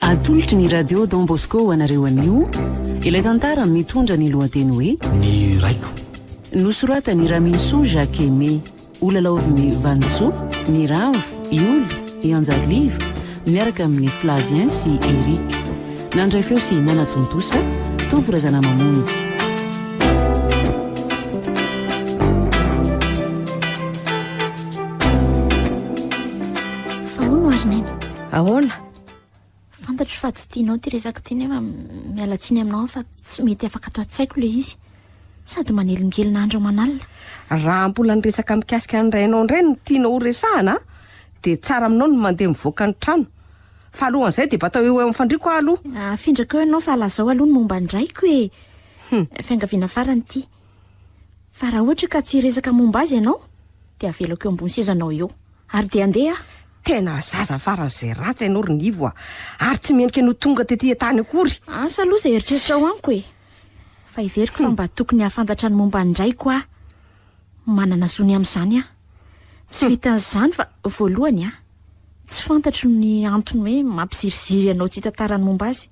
Atolotry ny Radio Don Bosco ho anareo anio ilay tantara mitondra ny lohateny hoe. Ny raiko. Nosoratan'i Raminisoa Jacques Aimé, holalaovin'i Vanintsoa, Miramvo, i Oly, i Anjarivo, miaraka amin'i Flavien sy Eric. Nandray feo sy nanatontosa, Tovo Razanamamonjy. Fa hono ary Neny. Ahoana? Fantatro fa tsy tianao ity resaka ity nefa miala tsiny aminao fa tsy mety afaka ato an-tsaiko ilay izy. Sady manelingelina andro aman'alina. Raha mbola ny resaka mikasika an'i Rainao indray no tianao horesahana dia tsara aminao ny mandeha mivoaka ny trano. Fa alohan'izay dia batao eo eo amin'ny fandriako aho aloha. Afindrako eo ianao fa lazao aloha ny momba ny raiko e! Fiangaviana farany ity. Fa raha ohatra ka tsy hiresaka momba azy ianao dia avelako eo ambony sezanao eo. Ary dia andeha aho. Tena zaza faran'izay ratsy ianao ry Nivo a! Ary tsy mendrika no tonga tety an-tany akory. Asa aloha izay eritreritrao amiko e! Fa heveriko fa mba tokony hahafantatra ny momba an'i Raiko aho. Manana zo ny amin'izany aho. Tsy vitan'izany fa voalohany a! tsy fantatro ny antony hoe mampiziriziry anao tsy hitantara ny momba azy.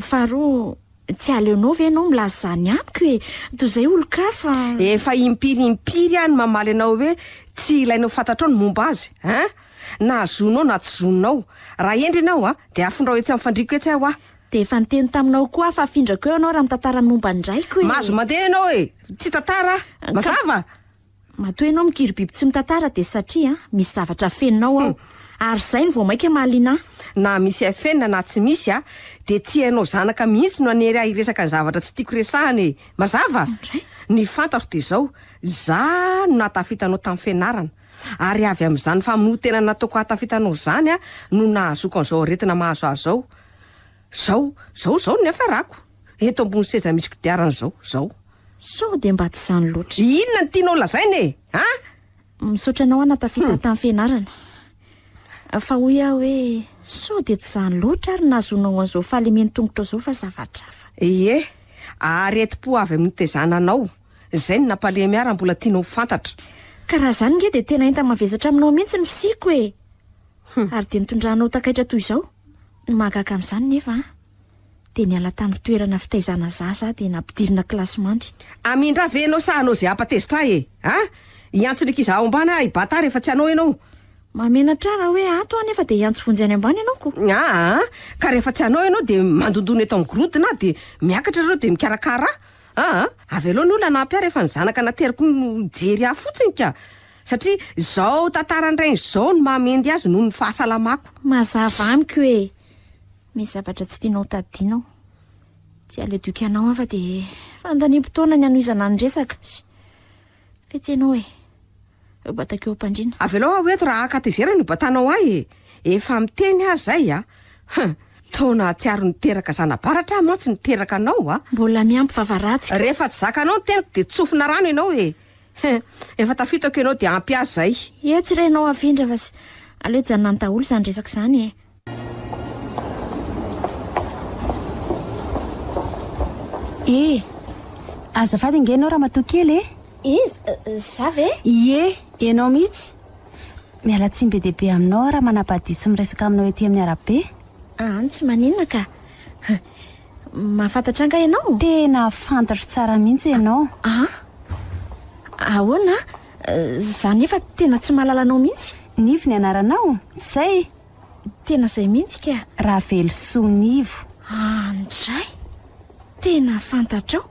Faharoa, tsy aleonao ve ianao milaza izany amiko e? Toy izay olon-kafa. Efa impiry impiry aho no mamaly anao hoe tsy ilainao fantatrao ny momba azy a! Na zonao na tsy zonao. Raha hendry ianao a, dia afindrao etsy amin'ny fandriako etsy aho a! Dia efa niteny taminao koa aho fa afindrako eo ianao raha mitantara ny momba ny raiko e! Mahazo mandeha ianao e! Tsy hitantara aho. Mazava? Matoa ianao mikiry biby tsy mitantara dia satria misy zavatra afeninao ao. Ary izay no vao mainka mahaliana ahy. Na misy afenina na tsy misy a, dia tsy ianao zanaka mihitsy no hanery ahy hiresaka ny zavatra tsy tiako resahana e! Mazava? Indray? Ny fantatro dia izao, za no nahatafita anao tamin'ny fianarana. Ary avy amin'izany famonoan-tena nataoko hahatafita anao izany aho no nahazoako an'izao aretina mahazo ahy izao. Izao, izao, izao no niafarako. Eto ambony seza misy kodiarana zao, zao. Sao dia mba tsy zany loatra. Inona no tianao lazaina e? Ha? Misaotra anao ana tafita tamin'ny fianarana. Fa hoy aho hoe sao dia tsy zany loatra ary nahazoanao an'izao fahalemen-tongotra zao fa zavatra hafa. Ie, aretim-po avy amin'ny nitezana anao. Izay no nampalemy ahy raha mbola tianao ho fantatra. Ka raha zany nge dia tena enta-mavesatra aminao mihitsy ny fisiako e! Ary dia nitondranao takaitra toy izao? Ny mahagaga amin'izany nefa an! dia niala tamin'ny toerana fitaizana zaza aho dia nampidirina kilasy mandry. Amindra ve enao sa hanao ze hapa tezitra ahy e? A! Hiantso ny ankiza ao ambany aho hibata rehefa tsy hanao enao. Mahamenatra ahy raha hoe ato aho nefa dia hiantso vonjy any ambany enao ko. Aa! Ka rehefa tsy hanao enao dia mandondona eto amin'ny gorodona aho dia miakatra reo dia mikarakara ahy. Aa! Avelao ny olona hanampy ahy rehefa ny zanaka nateriko no hijery ahy fotsiny ka! Satria izao tantara nireiny izao no mahamendy azy noho ny fahasalamako. Mazava amiko hoe. Misy zavatra tsy tianao tadidiana aho. Tsy aleo dioky anao aho fa dia fandaniam-potoana ny hanohizana ny resaka. Fetsy ianao e. Eo batako eo am-pandriana. Avelao aho eto raha hankatezerana io batanao ahy e. Efa miteny aho izay a. Hum. Taona hahatsiaro niteraka zana-baratra aho mantsy niteraka anao a. Mbola miampy vava ratsy. Rehefa tsy zakanao ny teniko dia tsofina rano ianao e. Hum. Efa tafitako ianao dia ampy ahy izay. Etsy re ianao afindra fa aleo hijanona any daholo izany resaka izany e. Eh! Azafady ange ianao ramatoa kely eh! Iza? Za ve? Ie, ianao mihitsy. Miala tsiny be dia be aminao aho raha manabadiho sy miresaka aminao ety amin'ny arabe. An, tsy maninona ka. Mahafantatra ahy angaha ianao? Tena fantatro tsara mihitsy ianao. An? Ahoana? Za nefa tena tsy mahalala anao mihitsy. Nivo ny anaranao? Tsy izay? Tena zay mihitsy ka! Ravelosoa Nivo. Andray! Tena fantatrao?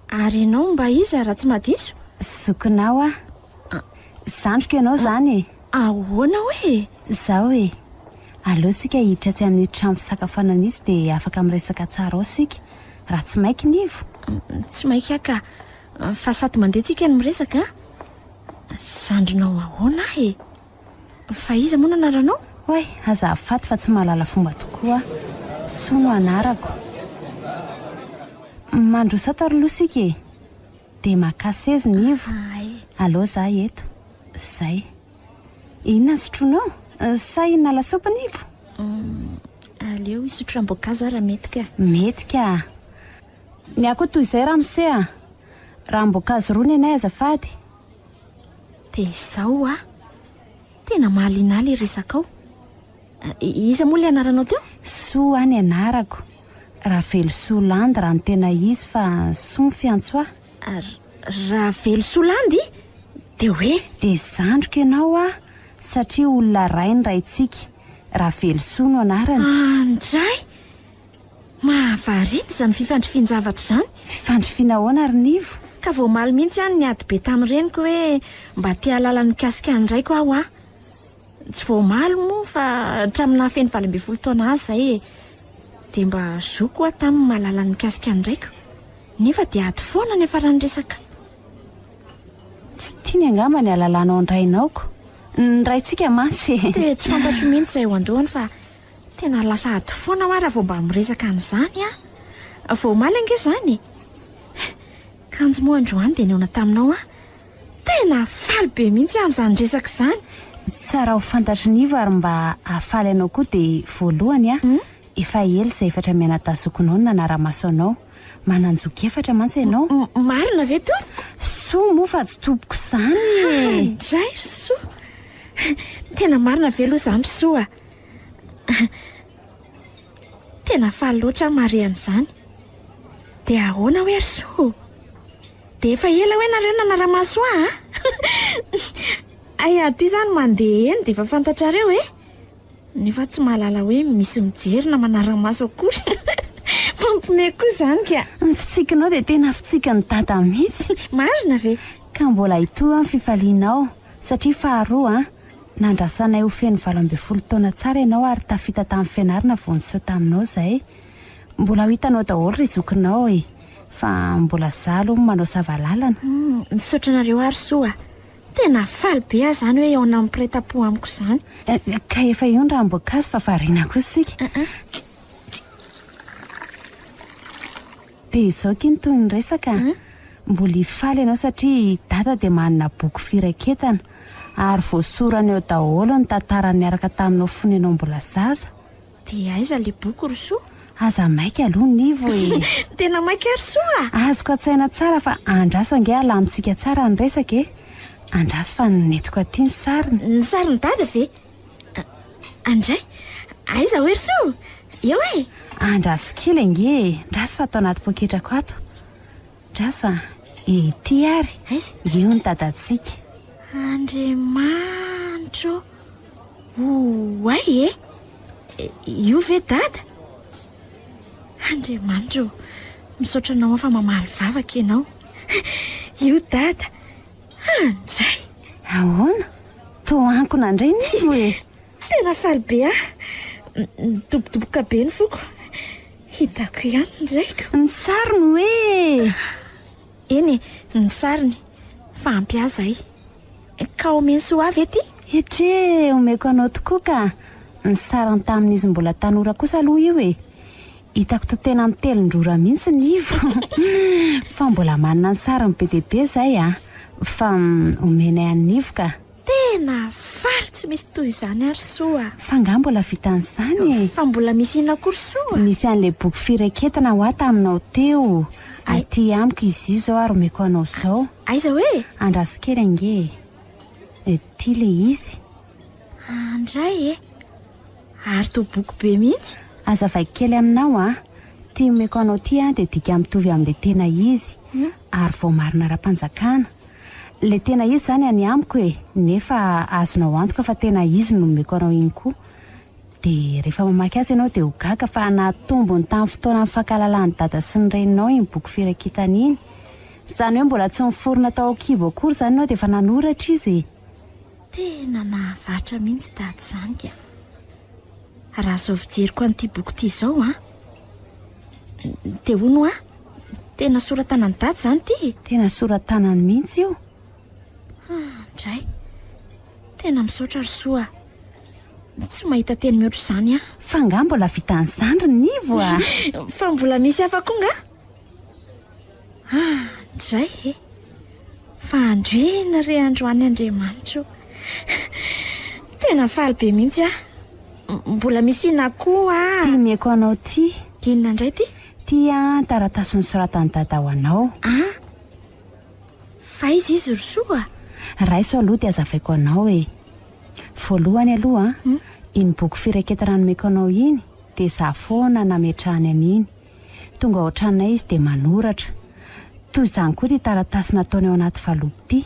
Ary ianao mba iza raha tsy madiso? Zokinao aho. Zandriko ianao izany e! Ahoana hoy e? Izao e! Aleo isika hiditra atsy amin'ny trano fisakafoanana mihitsy dia afaka miresaka tsara ao isika. Raha tsy maiky Nivo? Tsy maiky aho ka! Fa sady mandeha tsika no miresaka an! Zandrinao ahoana aho e? Fa iza moa no anaranao? Oay, aza afaty fa tsy mahalala fomba tokoa aho. Soa no anarako. Mandroso ato ary lo sika e! Dia makà seza ny ivo. Allo za eto. Zay. Inona ny sotroinao? Sa hihinana lasopy ny ivo? Aleo hisotro ranom-boankazo aho raha mety ka. Mety ka. Ny ahy koa toy izay ramose a! Ranom-boankazo roa ny anay azafady. Dia izao hoa, tena mahaliana ahy ilay resakao. Iza moa ilay anaranao teo? Soa ny anarako. Ravelosoa Landy raha ny tena izy fa Soa ny fiantso ahy. Ravelosoa Landy? Dia hoe? Dia zandriko ianao hoa, satria olona iray ny raintsika. Ravelosoa no anarany. Andray! Mahavariana izany fifandrifian-javatra izany. Fifandrifiana ahoana ary Nivo? Ka voamaly mihitsy aho niady be tamin'ny reniko hoe mba te hahalala ny mikasika an'ny raiko aho a! Tsy voamaly moa fa hatramin'ny nahafeno valo ambin'ny folo taona azy izay e! Dia mba zoky ho'a taminy ny mahalala ny mikasika an'ny raiko. Nefa dia ady foana niafaran'ny resaka. Tsy tiany angamba ny halalanao ny rainao ko. Ny raintsika mantsy e! Dia tsy fantatro mihitsy izay eo an-dohany fa. Tena lasa ady foana hoa raha vao mba miresaka an'izany an! Vao omaly ange izany e! Kanjo moa androany dia nihaona taminao aho. Tena faly be mihitsy aho amin'izany resaka izany. Tsara ho fantatr'i Nivo ary mba hahafaly anao koa dia voalohany an, efa ela izay efatra mianadazokinao no nanara-maso anao. Manan-joky efatra mantsy ianao. Marina ve Tompoko? Soa moa fa tsy tompoko izany e! Indray ry Soa! Tena marina ve aloha izany ry Soa? Tena faly loatra aho mahare an'izany. Dia ahoana hoe ry Soa ô? Dia efa ela hoe nareo nanara-maso ahy a? Hay aty izany mandeha eny dia efa fantatrareo e? Nefa tsy mahalala hoe misy mijery na manara-maso akory. Mampiomehy koa izany ka! Ny fitsikinao dia tena fitsikin'i Dada mihitsy. Marina ve? Ka mbola hitohy ny fifalianao satria faharoa an! Nandrasanay ho feno valo ambin'ny folo taona tsara ianao ary tafita tamin'ny fianarana vao niseho taminao izay. Mbola ho hitanao daholo ry zokinao e! Fa mbola za aloha manao sava lalana. Misaotra anareo ary soa a! Tena faly be aho izany hoe eo nampiretam-po amiko izany. Ka efa io ny ranom-boankazo fa variana koa isika. Dia izao kinto ny resaka a! Mbola hifaly ianao satria i Dada dia manana boky firaketana ary voasorany ao daholo ny tantara niaraka taminao fony ianao mbola zaza. Dia aiza ilay boky ry Soa? Aza maika aloha Nivo e! Tena maika ary Soa a! Azoko an-tsaina tsara fa andraso ange alamintsika tsara ny resaka e! Andraso fa nentinko aty ny sariny. Ny sarin'i Dada ve? Andray, aiza oe ry so? Eo e! Andraso kely ange e! Ndraso ato anaty poketrako ato. Ndraso a! Ety ary! Aiza? Eo ny dadantsika. Andriamanitro oay e! Io ve dada? Andriamanitro, misaotra anao aho fa mamaly vavaka ianao. Io dada! Andray! Ahoana? Toa ankona indray ny fo e! Tena faly be aho. Nidobodoboka be ny foko. Hitako ihany ny raiko. Ny sariny hoe! Eny e, ny sariny. Fa ampy ahy izay. Ka omeny soa ahy ve ity? Etche, omeko anao tokoa ka! Ny sariny tamin'izy mbola tanora kosa aloha io e! Hitako toa tena mitelin-drora mihitsy ny ivo fa mbola manana ny sariny be dia be izay a! Fa omenay an'i Nivo ka! Tena faly tsy misy toy izany ary soa a! Fa angaha mbola vitan'izany e? Fa mbola misy inona koa ry soa? Nisy an'ilay boky firaketana hoa taminao teo. Aty amiko izy io izao ary omeko anao izao. Aiza hoe? Andraso kely ange e. Ity ilay izy. Andray e! Ary toa boky be mihitsy! Aza vaiko kely aminao an! Ty omeko anao ty an dia dika mitovy amin'ilay tena izy ary voamarina ara-panjakana. Ilay tena izy izany any amiko e! Nefa azonao antoka fa tena izy no nomeko anao iny koa. Dia rehefa mamaky azy ianao dia ho gaga fa nahatombony tamin'ny fotoanan'ny fankahalalan'i Dada sy ny Reninao iny boky firaketana iny. Izany hoe mbola tsy niforona tao an-kibo akory izany ianao dia efa nanoratra izy e! Tena nahavatra mihitsy tady izany ka. Raha izao fijeriko an'ity boky ity izao an. Dia hono hoa, tena sora-tanan'i Dada izany ity e. Tena sora-tanany mihitsy io. Ah, ndray. Tena misaotra ry Soa. Tsy mahita teny mihoatra izany aho. Fa nga mbola vitan'ny zandriny Nivo a? Fa mbola misy hafa koa nga? Ah, izay e! Fa androina re androany Andriamanitro. Tena faly be mihitsy aho. Mbola misy inona koa? Ty mieko anao ty. Inona indray ty? Ty an, taratasy nosoratan'i Dada ho anao. Ah, fa iza izy ry soa? Raiso aloha dia azavaiko anao e. Voalohany aloha an, iny boky firaketana nomeko anao iny dia izaho foana nametrahany an'iny. Tonga ao an-tranonay izy dia manoratra. Toy izany koa ity taratasy nataony ao anaty valopy ity.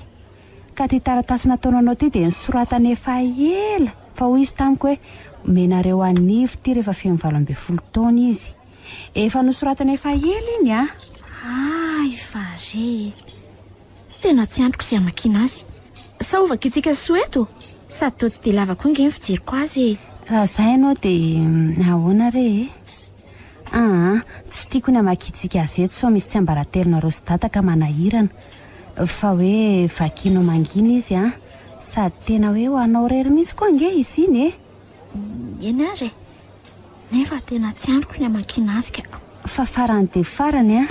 Ka ity taratasy nataony anao ity dia nosoratany efa ela, fa hoy izy tamiko hoe, Omenareo an'i Ivo ity rehefa feno valo ambin'ny folo taona izy. Efa nosoratany efa ela iny an! Hay fa re e! Tena tsy antoko sy hamakiana azy. Sa ho vakintsika soa eto? Sady toa tsy dia lava koa ange ny fijeriko azy e! Raha izay ianao dia ahoana re e? Aa, tsy tiako ny hamakiantsika azy eto sao misy tsiambaratelonareo sy dada ka manahirana. Fa hoe vakianao mangina izy an! Sady tena hoe ho anao irery mihitsy koa ange izy iny e! Eny aza e! Nefa tena tsy andriko ny hamakiana azy ka! Fa farany dia farany an!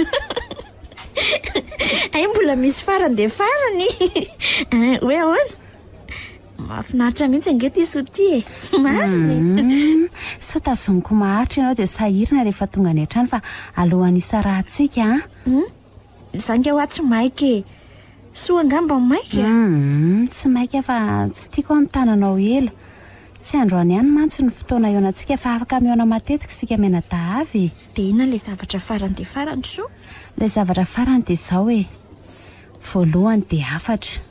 Hay mbola misy farany dia farany! Hoe ahoana? Mahafinaritra mihitsy ange ty soa ty e. Marina e. Hmm, soa tazoniko maharitra ianao dia sahirana rehefa tonga any an-trano fa alohan'ny isarahantsika an. Hmm? Za nge hoa tsy maika e. Soa angamba maika? Hmm, tsy maika fa tsy tiako aho mitana anao ela. Tsy androany ihany mantsy no fotoana ihaonantsika fa afaka mihaona matetika isika mianadahavy e. Dia inona ilay zavatra farany dia farany soa? Ilay zavatra farany dia izao e. Voalohany dia hafatra.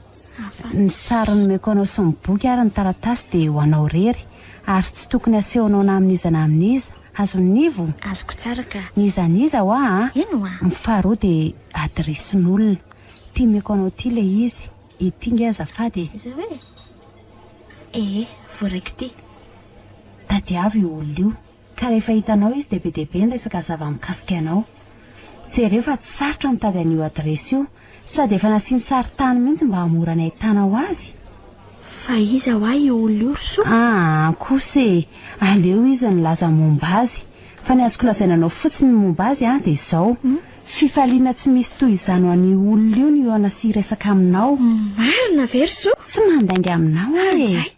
Ny sary nomeko anao sy ny boky ary ny taratasy dia ho anao irery, ary tsy tokony hasehonao na amin'iza na amin'iza. Azon'ivo? Azoko tsara ka. N'iza n'iza hoa a! Eny hoa! Ny faharoa dia adiresin'olona. Ity meko anao ity ilay izy. Ity nge azafady e! Izao e! Ee, voaraiko ity. Tadiavo io olona io. Ka rehefa hitanao izy dia be dia be ny resaka zava mikasika anao. Jereo fa tsy sarotra mitady an'io adiresy io. Sady efa nasiany sary tany mihitsy mba hamora ny ahitanao azy. Fa iza hoa io olona io ry soa? Aa kosa e! aleo izy nilaza momba azy. Fa ny azoko lazaina anao fotsiny ny momba azy an dia izao, fifaliana tsy misy toy izany ho an'io olona io ny hihaona sy hiresaka aminao. Marina ve ry soa? Tsy mandainga aminao aho e!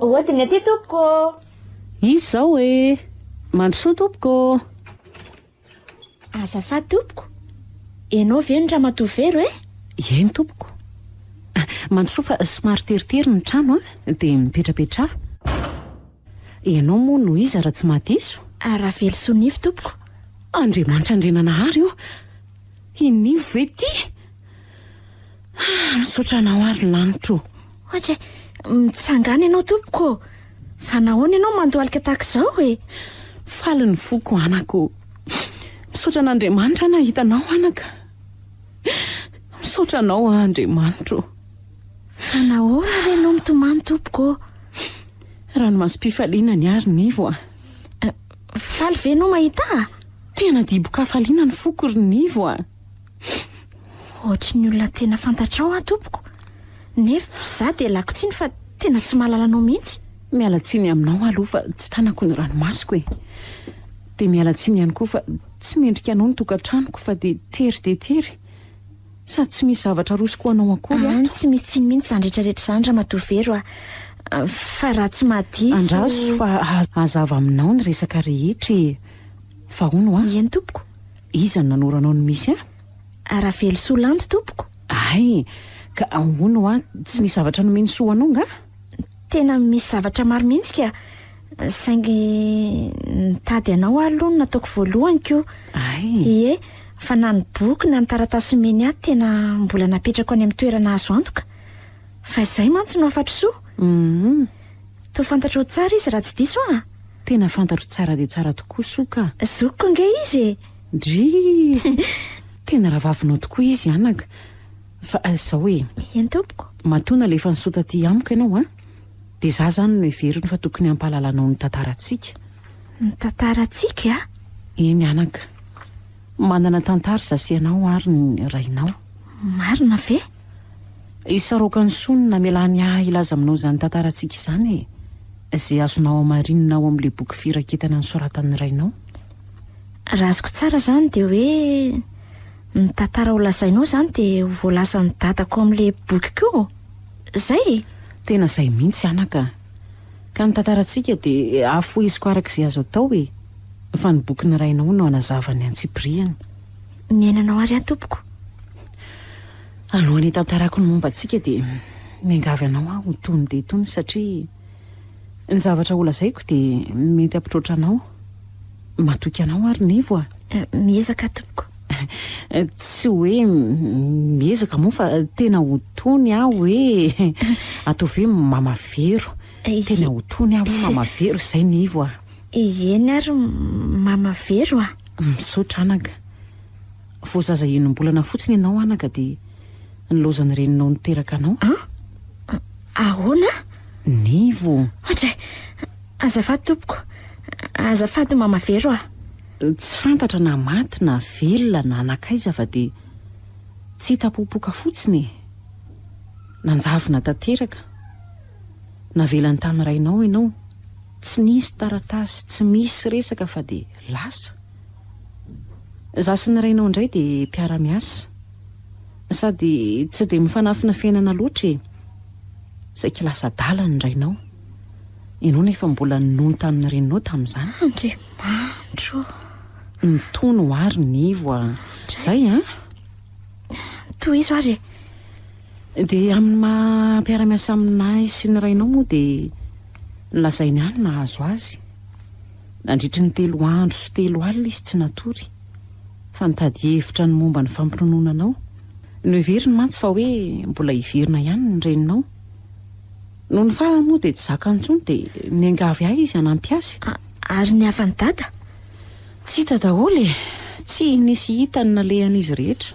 Hodiny aty tompoko ô! Izy izao e! Mandrosoa tompoko ô! Azafady tompoko, ianao ve no ramatoa Vero e? Ieny tompoko. Mandrosoa fa somary teritery ny trano an, dia mipetrapetraha. Ianao moa no iza raha tsy mahadiso? Ravelosoa Nivo tompoko. Andriamanitra Andriananahary ô! I Nivo ve ity? Ah, misaotra anao ary lanitra o. Ohatra e, mitsangana ianao tompoko. Fa nahoana ianao mandohalika tahaka izao e? Faly ny foko anako. Misaotra an'Andriamanitra nahita anao anaka. Misaotra anao Andriamanitro. Fa nahoana re ianao mitomany tompoko? Ranomasom-pifaliana ny ary Nivo a. Eh, faly ve ianao mahita? Tena dibo-kafaliana ny foko ry Nivo a. Ohatry ny olona tena fantatrao aho tompoko, nef za dia lako tsiny fa tena tsy mahalala anao mihitsy. Miala tsiny aminao aloha fa tsy tanako ny ranomasoko e! Dia miala tsiny ihany koa fa tsy mendrika anao ny tokantranoko fa dia tery dia tery. Sady tsy misy zavatra arosoko ho anao akory ato. Any tsy misy tsiny mihitsy izany rehetra rehetra izany ramatoa Vero a! Fa raha tsy mahadiso. Andraso fa hazava aminao ny resaka rehetra e! Fa hono a! Eny tompoko. Iza no nanoro anao ny misy ahy? A Ravelosoa Landy tompoko. Hay! Ka ahoana hoa? Tsy misy zavatra nomeny soa anao nga? Tena misy zavatra maro mihitsy ka! Saingy nitady anao aho aloha no nataoko voalohany ko! Hay! Ie, fa na ny boky na ny taratasy nomeny ahy tena mbola napetrako any amin'ny toerana azo antoka! Fa izay mantsy no hafatr'soa! Hum! Toa fantatrao tsara izy raha tsy diso aho a! Tena fantatro tsara dia tsara tokoa soa ka! Zokiko ange izy e! Drii! Tena rahavavinao tokoa izy anaka! Fa izao e! Eny tompoko! Matoa nalefa ny soa taty amiko ianao an! Dia izaho izany no heveriny fa tokony hampahalala anao ny tantarantsika. Ny tantarantsika? Eny anaka! Manana tantara izaho sy ianao ary ny rainao. Marina ve? Hisaroka ny soa ny namelany ahy hilaza aminao izany tantarantsika izany e! Izay azonao hamarinina ao amin'ilay boky firaketana nosoratan'ny rainao. Raha azoko tsara izany dia hoe ny tantara ho lazainao izany dia ho voalazan'i dadako ao amin'ilay bokiko io? Izay e? Tena izay mihitsy anaka a! Ka ny tantarantsika dia hafoheziko araka izay azo atao e! Fa ny bokin'ny rainao no hanazava ny antsipiriany. ny ainanao ary aho tompoko. Alohan'ny hitantarako ny momba antsika dia miangavy anao aho ho tony dia tony satria ny zavatra holazaiko dia mety hampitroatra anao. Matoky anao ary Nivo a. Eh, miezaka tompoko. Tsy hoe miezaka moa fa tena ho tony aho hoe atao ve mamavero. Eh, tena ho tony aho hoe mamavero izay Nivo a. Eh, eny ary mamavero a. Misaotra anaka. Vao zaza enim-bolana fotsiny ianao anaka dia nilaozan'ny reninao niteraka anao. An? Ahoana? Nivo. Hatray! Azafady tompoko. Azafady Mama Vero a. Tsy fantatra na maty na velona na nankaiza fa dia tsy hita popoka fotsiny e. Nanjavona tanteraka. navelany tany rainao enao tsy nisy taratasy tsy misy resaka fa de lasa za sy ny rainao ndray de mpiaramiasa sady tsy de mifanafina fiainana loatra e saiky lasa adala ny rainao enao nefa mbola nony tamin'ny reninao tamizany Andriamanitro mitony ho ary ny voa zay an tohizo ary e Dia amin'ny maha mpiara-miasa aminay sy ny rainao moa dia nolazainy ahy ny nahazo azy. Nandritry ny telo andro sy telo alina izy tsy natory, fa nitady hevitra ny momba ny fampinonoana anao. Noheveriny mantsy fa hoe mbola hiverina ihany ny reninao. Nony farany moa dia tsy zakany intsony dia niangavy ahy izy hanampy azy. A, ary ny havan'i Dada? Tsy hita daholo e! Tsy nisy hita ny nalehan'izy rehetra.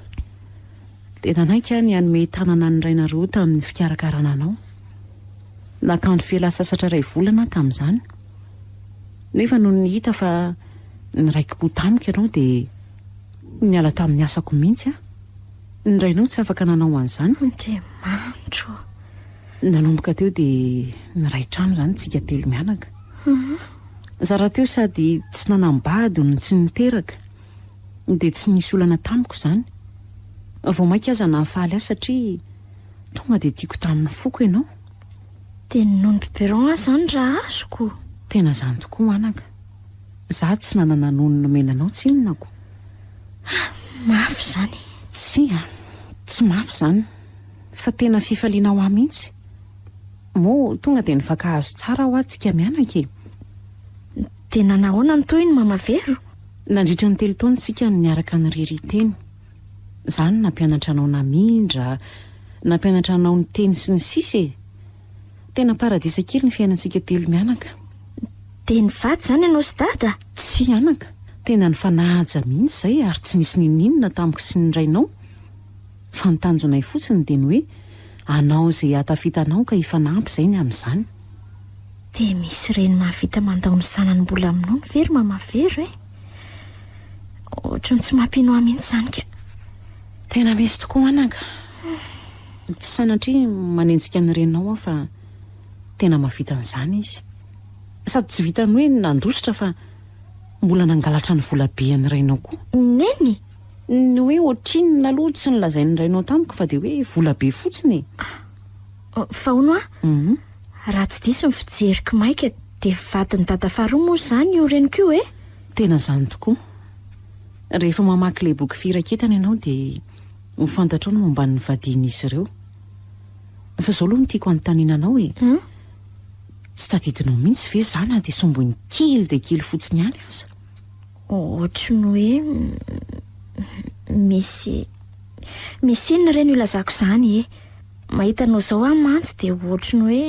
Dia nanaiky aho ny hanome tanana an'i Rainareo tamin'ny fikarakarana anao. Nakandro fialan-tsasatra iray volana aho tamin'izany. Nefa nony hita fa niraiki-po tamiko ianao dia niala tamin'ny asako mihitsy aho. Ny rainao tsy afaka nanao an'izany. Andriamanitro ô! Nanomboka teo dia niray trano izany tsika telo mianaka. Zara teo sady tsy nanam-bady no tsy niteraka. dia tsy nisy olana tamiko izany. Vao mainka aza nahafaly ahy satria tonga dia tiako tamin'ny foko ianao. Dia ny nono biberon aza izany raha azoko? Tena izany tokoa anaka. Izaho tsy nanana nono nomena anao tsinonako. Ah, mafy izany. Tsia, tsy mafy izany, fa tena fifaliana ho ahy mihitsy. Moa tonga dia nifankahazo tsara hoa tsika mianaka e. Dia nanahoana ny tohiny Mama Vero? Nandritra ny telo taona isika no niaraka nirirỳ teny. Izaho no nampianatra anao namindra, nampianatra anao niteny sy ny sisa e! Tena paradisa kely ny fiainantsika telo mianaka. Dia nivady izany ianao sy Dada? Tsia anaka, tena nifanaja mihitsy izay ary tsy nisy n'inon'inona tamiko sy ny rainao. Fa ny tanjonay fotsiny dia ny hoe anao izay hatafitanao ka hifanampy izay ny amin'izany. Dia misy ireny mahavita mandao ny zanany mbola amin'ny nono ve ry mama vero e? Ohatran'ny tsy mampinoa mihitsy izany ka. Tena misy tokoa anaka. Tsy sanatria manenjika ny reninao aho fa tena mahavita an'izany izy. Sady tsy vitan'ny hoe nandositra fa mbola nangalatra ny volabe an'ny rainao koa. Neny! Ny hoe ohatrinona aloha tsy nolazain'ny rainao tamiko fa dia hoe vola be fotsiny e! Ah, fa hono a! Raha tsy diso ny fijeriko maika dia vadin'i Dada faharoa moa izany io reniko io e! Tena izany tokoa. Rehefa mamaky ilay boky Firaketana ianao dia ho fantatrao ny momba ny vadian'izy ireo. Fa izao aloha no tiako hanontaniana anao e! Tsy tadidinao mihitsy ve izaho na dia somboiny kely dia kely fotsiny ihany aza? Ohatry ny hoe misy misy inona re no ilazako izany e? Mahita anao izao aho mantsy dia ohatry ny hoe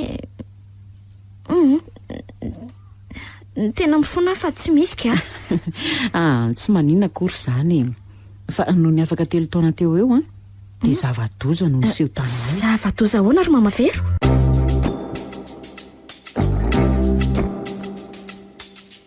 hum tena mifona aho fa tsy misy ka. Ah, tsy maninona akory izany e. Fa nony afaka telo taona teo ho eo an, dia zava-doza no niseho taminay. Zava-doza ahoana ry Mama Vero?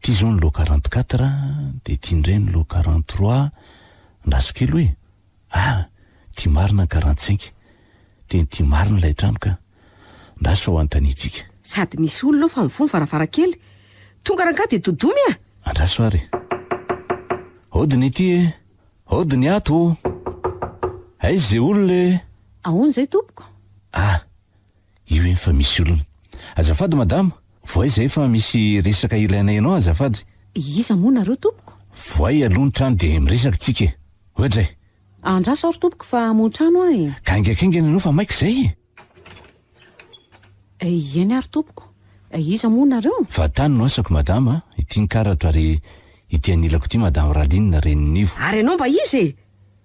Ity izao ny lot quarante quatre a, dia ity indray ny lot quarante trois a, andraso kely hoe ah! ity marina ny quarante cinq, tena ity marina ilay trano ka! andraso sao anontaniantsika. Sady misy olona ao fa mivoha ny varavarankely. Tonga rangahy dia dodomy a! Andraso ary e! Hody ny ity e! Hody ny ato o! Aiza izay olona e! Ahoana izay tompoko? Ah! io efa misy olona. Azafady madama, voay zay fa misy resaka ilainay anao azafady. Iza moa nareo tompoko? Voay aloha ny trano dia miresaka tsika e. Ohatra e. Andraso aho ry tompoko fa hamoha trano aho e. Gaingakaingana ianao fa maika zay e. Ieny ary tompoko. Iza moa nareo? Vatany no asako madama, ity ny karatra ary ity anilako ity madame Raline Reninivo. Ary ianao mba iza e?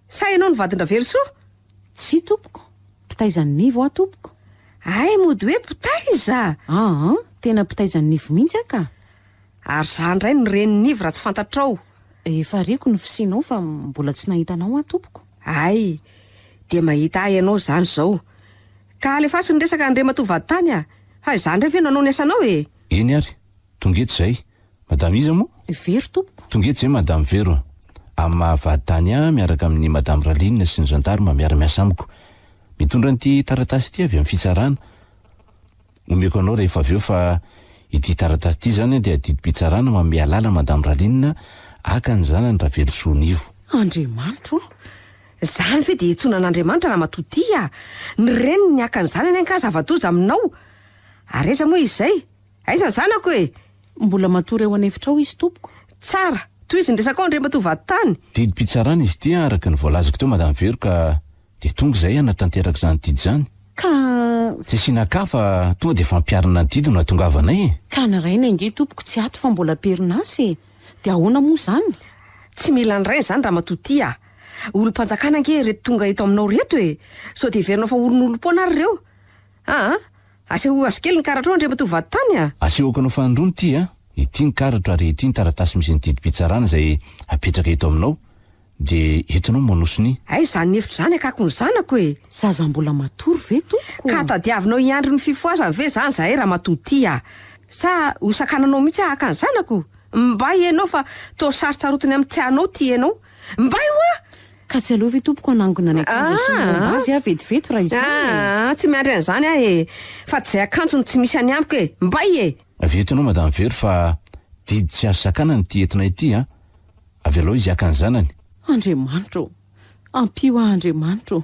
Sa ianao ny vadin-dRavelosoa? Tsia tompoko, mpitaiza ny nivo aho tompoko. Hay mody hoe mpitaiza! Aa, tena mpitaiza ny nivo mihitsy aho ka! Ary za indray no ren'ny nivo raha tsy fantatrao! Efa reko ny fisianao fa mbola tsy nahita anao aho tompoko. Hay, dia mahita ahy ianao izany izao. Ka alefaso ny resaka Andriamatoa Vaditany a! Fa izaho indray ve no hanao ny asanao e! Eny ary, tonga eto izay, Madame iza moa? Vero tompoko. Tonga eto izay Madame Vero. Amin'ny maha vady tany ahy miaraka amin'ny Madame Raline sy ny Gendarme miara-miasa amiko. Mitondra an'ity taratasy ity avy amin'ny fitsarana. Omeko anao rehefa avy eo fa ity taratasy ity izany dia didim-pitsarana manome alala Madame Raline haka ny zanany Ravelosoa Nivo. Andriamanitro o! Izany ve dia iantsoana an'Andriamanitra Ramatoa Tia? Ny reniny haka ny zanany angaha zava-doza aminao? Ary aiza moa izy izay? Aiza ny zanako e? Mbola matory ao an'efitra ao izy tompoko. Tsara! Tohizo ny resakao Andriamatoa Vaditany. Didim-pitsarana izy ity araka ny voalazako teo Madame Vero ka dia tonga izay hanatanteraka izany didy izany. Ka. Tsy asiana cas fa tonga dia fampiharana ny didy no hatongavanay e! Ka ny rainy ange tompoko tsy ato fa mbola am-perinasa e! Dia ahoana moa izany? Tsy mila ny rainy izany Ramatoa Tia a! Olom-panjakana ange ireto tonga eto aminao ireto e! Sao dia heverinao fa oronolom-poana ary ireo? Aa! Asehoy azy kely ny karatrao andria matoa vady tany a! Asehoko anao fa androany ity a! Ity ny karatro ary ity ny taratasy misy ny didim-pitsarana izay apetraka eto aminao dia entinao manoso ny. Hay izany efitra izany akako ny zanako e! Zaza mbola matory ve tompoko? Ka tadiavinao hiandry ny fifohazany ve izany izahay ramatoa ity a! Sa hosakananao mihitsy aho haka ny zanako? Mbay ianao fa toa sary tarotiny amin'ny tianao ity ianao. Mbay hoa! Ka tsy aleo ve tompoko hanangona ny akanjo asia ny romba azy aho vetivety raha izany e! Aah! Tsy miandry an'izany aho e! Fa tsy izay akanjo no tsy misy any amiko e! Mbay e! Avy eto ianao madame Vero fa didy tsy azo sakanana ity entina ity an! Avelao izy haka ny zanany. Andriamanitra ô! Ampio ahy Andriamanitra ô!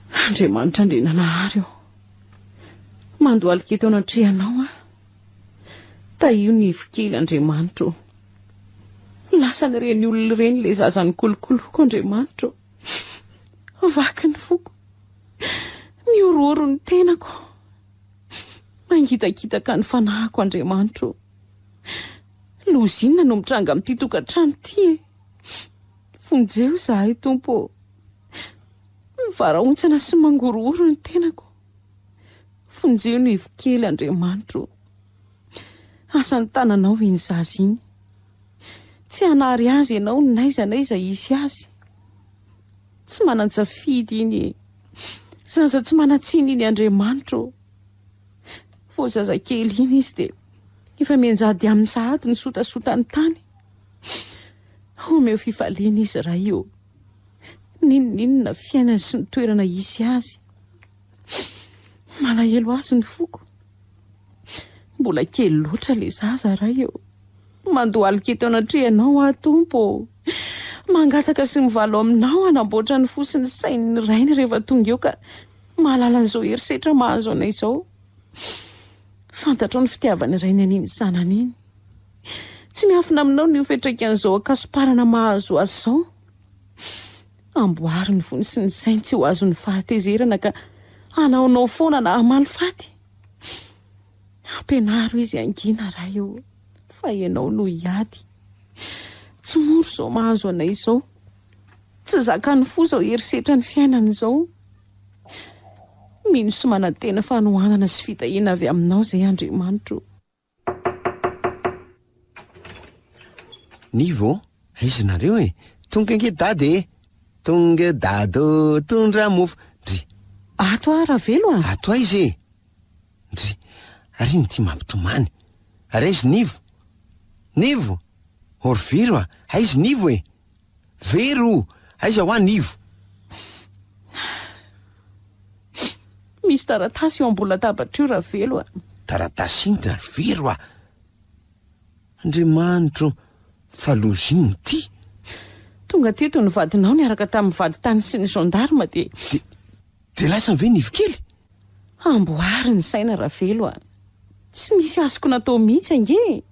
Andriamanitra Andriananahary ô, mandohalika eto anatrehanao aho. Tahio ny ivo kely, Andriamanitra ô. Lasan'ireny olona ireny ilay zaza nikolokoloko, Andriamanitra ô. Vaky ny foko. Mihorohoro ny tenako. Mangitakitaka ny fanahiko, Andriamanitra ô. Loza inona no mitranga amin'ity tokantrano ity e? Vonjeo izahay, Tompo ô. Mivarahontsana sy mangorohoro ny tenako. Vonjeo ny ivokely Andriamanitro o. Asa ny tananao iny zaza iny. Tsy hanary azy ianao n'aiza n'aiza hisy azy. Tsy manan-tsafidy iny e. Zaza tsy manan-tsiny iny Andriamanitro o. Vao zazakely iny izy dia efa mianjady amin'ny sahady ny sotasotany tany. Omeo fifaliana izy Ray o. N'inon'inona fiainany sy ny toerana hisy azy. Malahelo azy ny foko. Mbola kely loatra le zaza ray ô. Mandohalika eto anatrehanao aho tompo ô. Mangataka sy mivalo aminao hanamboatra ny fo sy ny sain'ny rainy rehefa tonga eo ka mahalala an'izao herisetra mahazo anay izao. Fantatrao ny fitiavan'ny rainy an'iny zanany iny. Tsy miafina aminao ny ho fiantraikan'izao ankasomparana mahazo azy izao. Amboary ny fony sy ny sainy tsy ho azon'ny fahatezerana ka hanaonao foana na hamaly faty. Ampianaro izy hangina Ray ô, fa Ianao no hiady. Tsy mora izao mahazo anay izao. Tsy zakan'ny fo izao herisetra ny fiainana izao. Mino sy manantena fanohanana sy fitahiana avy Aminao izay Andriamanitro. Nivo ô! Aiza nareo e! Tonga ange dada e! Tonga dada ô! Tondra mofo! Ndry. Ato aho Ravelo a! Ato aiza e! Ndry. Ary ino ity mampitomany? Ary aiz Nivo? Nivo! Orviro a! Aiz Nivo e! Very o! Aiza hoa ny ivo? Misy taratasy eo ambony latabatra io Ravelo a! Taratasy inona ry Vero a! Andriamanitra o! Fa loza inona ity? Tonga teto ny vadinao niaraka tamin'ny vady tany sy ny gendarme dia. Dia lasa ve ny ivokely? Amboary ny saina Ravelo a! Tsy nisy azoko natao mihitsy ange e!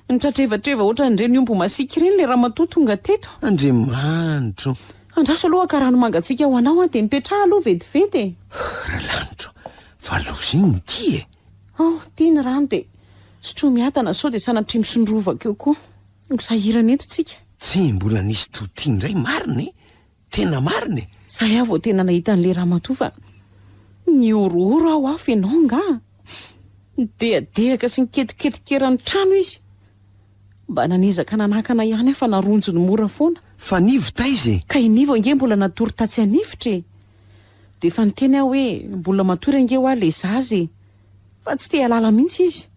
Nitratrevatreva ohatran'ireny omby masiaka ireny ilay ramatoa tonga teto. Andriamanitro! Andraso aloha ka rano mangatsiaka ho anao a! Dia mipetraha aloha vetivety e! Ralanitro! Fa loza iny ny dia e! Ao, ity ny rano dia sotroy miadana sao dia sanatria misondrovaka eo koa. Ho sahirana eto tsika. Tsy mbola nisy toa ity indray marina e! Tena marina e! Zay aho vao tena nahita an'ilay ramatoa fa nihorohoro aho afo ianao angaha? Nidehadehaka sy niketoketoka eran'ny trano izy. Mba nanezaka nanakana ihany aho fa naronjony mora foana. Fa Nivo taiza e? Ka i Nivo ange mbola natory tatsy an'efitra e! Dia efa niteny aho hoe mbola matory ange hoa ilay zaza e! Fa tsy te-hialala mihitsy izy.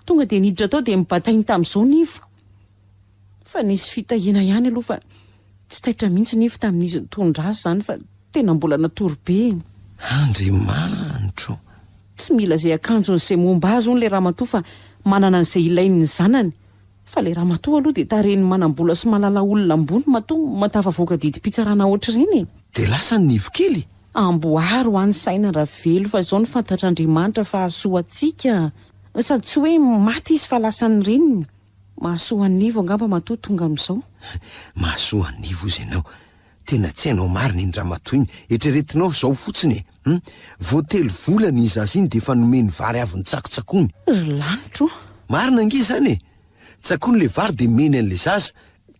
Tonga dia niditra tao dia nibatainy tamin'izao Nivo. Fa nisy fitahiana ihany aloha fa tsy taitra mihitsy nify tamin'izy nitondra azy izany fa tena mbola natory be iny. Andriamanitro! Tsy mila izay akanjony izay momba azy hono ilay ramatoa fa manana an'izay ilainy ny zanany. Fa ilay ramatoa aloha dia tarehin'ny manam-bola sy mahalala olona ambony matoa mahatafavoaka didim-pitsarana ohatr'ireny e! Dia lasa ny nivo kely? Amboary ho any saina Ravelo fa izao no fantatr'Andriamanitra fa hahasoa antsika. Sady tsy hoe maty izy fa lasan'ny reniny. Mahasoa an'ivo angamba matoa tonga amin'izao. Mahasoa an'ivo ozy ianao. Tena tsy hainao marina iny ramatoa iny. Eritreretinao izao fotsiny e! Hum. Vao telo volana iny zaza iny dia efa nomeny vary avy notsakotsakony. Ry lanitra o! Marina ange izany e! Tsakony ilay vary dia meny an'ilay zaza.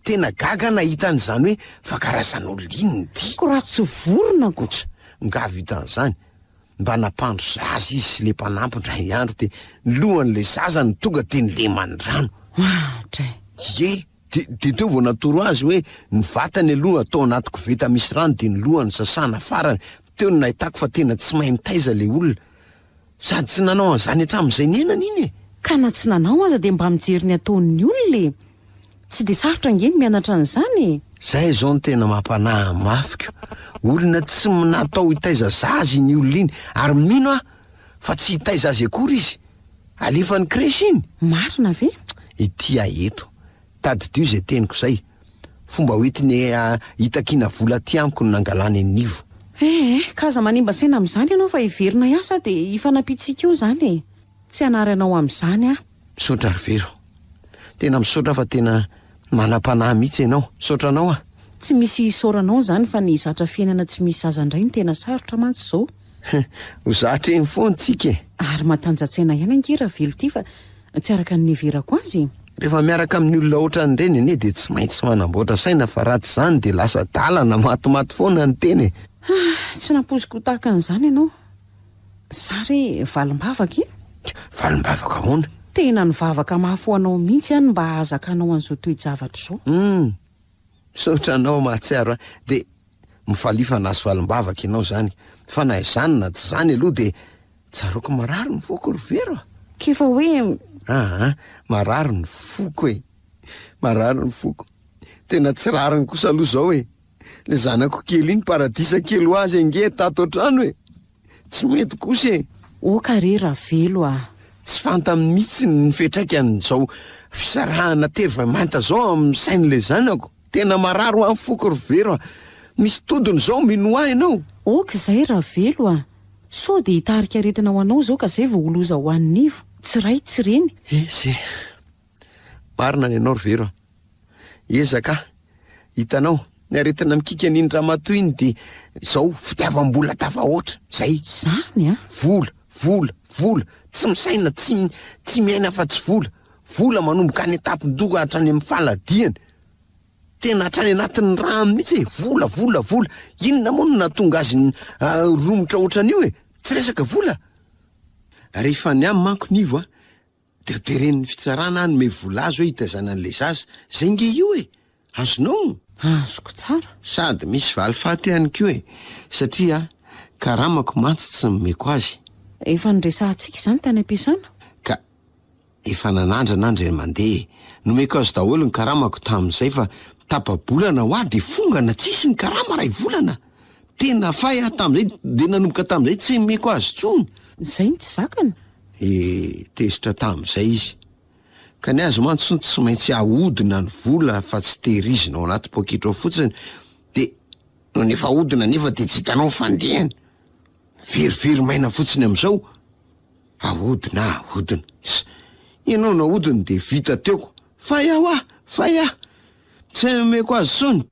Tena gaga aho nahita an'izany hoe fa karazan'olona inona ity. Ko raha tsy vorona ko! Tsa! Nga vita an'izany. Mba nampandro zaza izy sy le mpanampy indray andro dia ny lohan'ilay zaza no tonga dia nileman'ny rano. Atra e! Ie, dia teo vao natoro azy hoe ny vatany aloha atao anaty koveta misy rano dia ny lohany sasana farany, teo no nahitako fa tena tsy mahay mitaiza ilay olona. Sady tsy nanao an'izany hatramin'izay niainany iny e! Ka na tsy nanao aza dia mba mijery ny ataon'ny olona e! Tsy dia sarotra ange ny mianatra an'izany e! Zay izao no tena mampanahy ny mafiko. Olona tsy natao hitaiza zaza iny olona iny ary mino aho fa tsy hitaiza azy akory izy. Alefany crèche iny. Marina ve? Ety aho eto. Tadidio izay teniko izay. Fomba hoentiny hitakiana vola aty amiko no nangalany an'ivo. Eh eh, ka aza manimba saina amin'izany ianao fa heverina hiasa dia hifanampiantsika eo izany e! Tsy hanary anao amin'izany aho. Misaotra ry Vero. Tena misaotra fa tena manam-panahy mihitsy ianao. Misaotra anao an! Tsy misy hisaoranao izany fa ny zatra fiainana tsy misy zaza indray no tena sarotra mantsy izao. Ho zatra eny foana tsika e! Ary matanjatsaina ihany ange Ravelo ity fa tsy araka ny niheverako azy e! Rehefa miaraka amin'ny olona ohatran'ireny anie dia tsy maintsy manamboatra saina fa raha tsy izany dia lasa adala na matimaty foana ny tena e! Tsy nampoiziko ho tahaka an'izany ianao. Za re valimbavaka e! Valimbavaka ahoana? Tena nivavaka mafy ho anao mihitsy aho ny mba hahazakanao an'izao toe-javatra izao. Humm! Misaotra anao mahatsiaro ahy. Dia mifalia fa nahazo valimbavaka ianao izany. Fa na izany na tsy izany aloha dia tsaroako marary ny foko ry Vero a! K'efa hoe. Aa! Marary ny foko e! Marary ny foko. Tena tsy rariny kosa aloha izao e! Le zanako kely iny paradisa kely ho azy ange tato an-trano e! Tsy mety kosa e! Oh ka re Ravelo ah! Tsy fantany mihitsy ny fiatraikan'izao fisarahana tery vao mainta zao amin'ny sain'ilay zanako! Tena marary ho an'ny foko ry Vero ah! Misy todiny zao mino ahy ianao! Ok izay Ravelo ah! Sao dia hitarika aretina ho anao izao ka zay vao ho loza ho an'ny nivo! Tsy ray tsy reny! He he! Marina ny anao ry Vero ah! Ezaka ah! Hitanao, ny aretina mikiky an'iny ramatoa iny dia izao, fitiavam-bola tafahoatra. Izay. Izany an! Vola, vola, vola, tsy misaina, tsy, tsy miaina afa-tsy vola. Vola manomboka any an-tampon-doha hatrany amin'ny faladiany. Tena hatrany anatin'ny rano mihitsy e! Vola, vola, vola! Inona moa no nahatonga azy ny, ah, romotra ohatran'io e! Tsy resaka vola! Rehefa ny ahy manko, Nivo a! De ho teren'ny fitsarana hanome vola azy hoe hitaizana an'ilay zaza. Zay nge io e! Azonao? Azoko tsara. Sady misy valifaty ihany koa e! Satria karamako mantsy tsy nomeko azy. Efa niresahantsika izany tany am-piasana. Ka efa nanandrana an-dry mandeha e! Nomeko azy daholo ny karamako tamin'izay fa tapa-bolana hoa de fongana tsisy ny karama iray volana! Tena fay aho tamin'izay dia nanomboka tamin'izay tsy nomeko azy intsony. Izay no tsy zakany. Dia tezitra tamin'izay izy. Ka ny azy mantsy hono tsy maintsy ahodina ny vola fa tsy tehirizina ao anaty poketra ao fotsiny dia nony efa ahodina anefa dia tsy hitanao ny fandehany. Verivery maina fotsiny amin'izao. Ahodina, ahodina. Tss. Ianao nahodiny dia vita teo. Fay aho ah! Fay aho! Tsy nomeko azy intsony.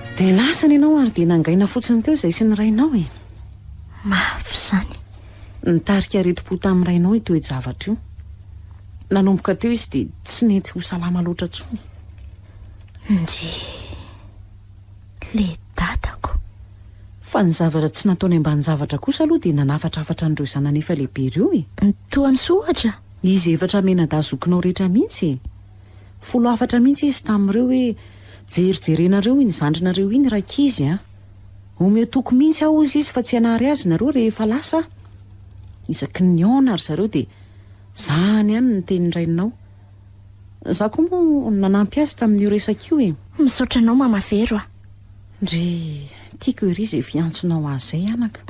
Dia lasana ianao ary dia nangaina fotsiny teo izay sy ny rainao e. Mafy izany. Nitarika aretim-po tamin'ny rainao io toe-javatra io. Nanomboka teo izy dia tsy nety ho salama loatra intsony. Nje. Le dadako. Fa ny zavatra tsy nataony ambanin-javatra kosa aloha dia nanafatrafatra an'ireo zanany efa lehibe ireo e. Toa ny sohatra. Izy efatra mena-dahy zokinao rehetra mihitsy e. Folo hafatra mihitsy izy tamin'ireo hoe, Jerijerenareo iny zandrinareo iny rankizy an! Omeo toky mihitsy aho hozy izy fa tsy hanary azy nareo rehefa lasa aho. Isaky ny nihaona ry zareo dia, Zahany ihany ny tenin-drainao. Izaho koa moa nanampy azy tamin'io resaka io e! Misaotra anao Mama Vero a! Ndry, tiako ery izay fiantsonao ahy izay anaka!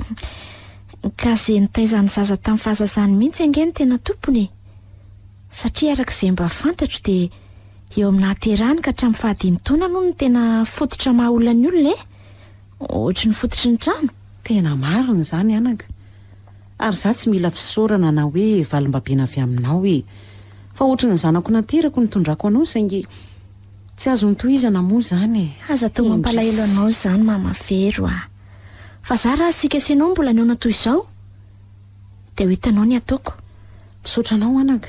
Ka izay nitaiza ny zaza tamin'ny fahazazany mihitsy ange no tena tompony e! Satria araka izay mba fantatro dia eo amin'ny nahaterahany ka hatramin'ny fahadimy taona aloha no tena fototra maha olona ny olona e! Ohatry ny fototry ny trano. Tena marina izany anaka. Ary za tsy mila fisaorana na hoe valimbabena avy aminao e! Fa ohatry ny zanako naterako nitondrako anao saingy tsy azony tohizana moa izany e! Aza atao mampalahelo anao izany Mama Vero a! Fa za raha asika sy ianao mbola nihaona toy izao? Dia ho hitanao ny ataoko. Misaotra anao anaka.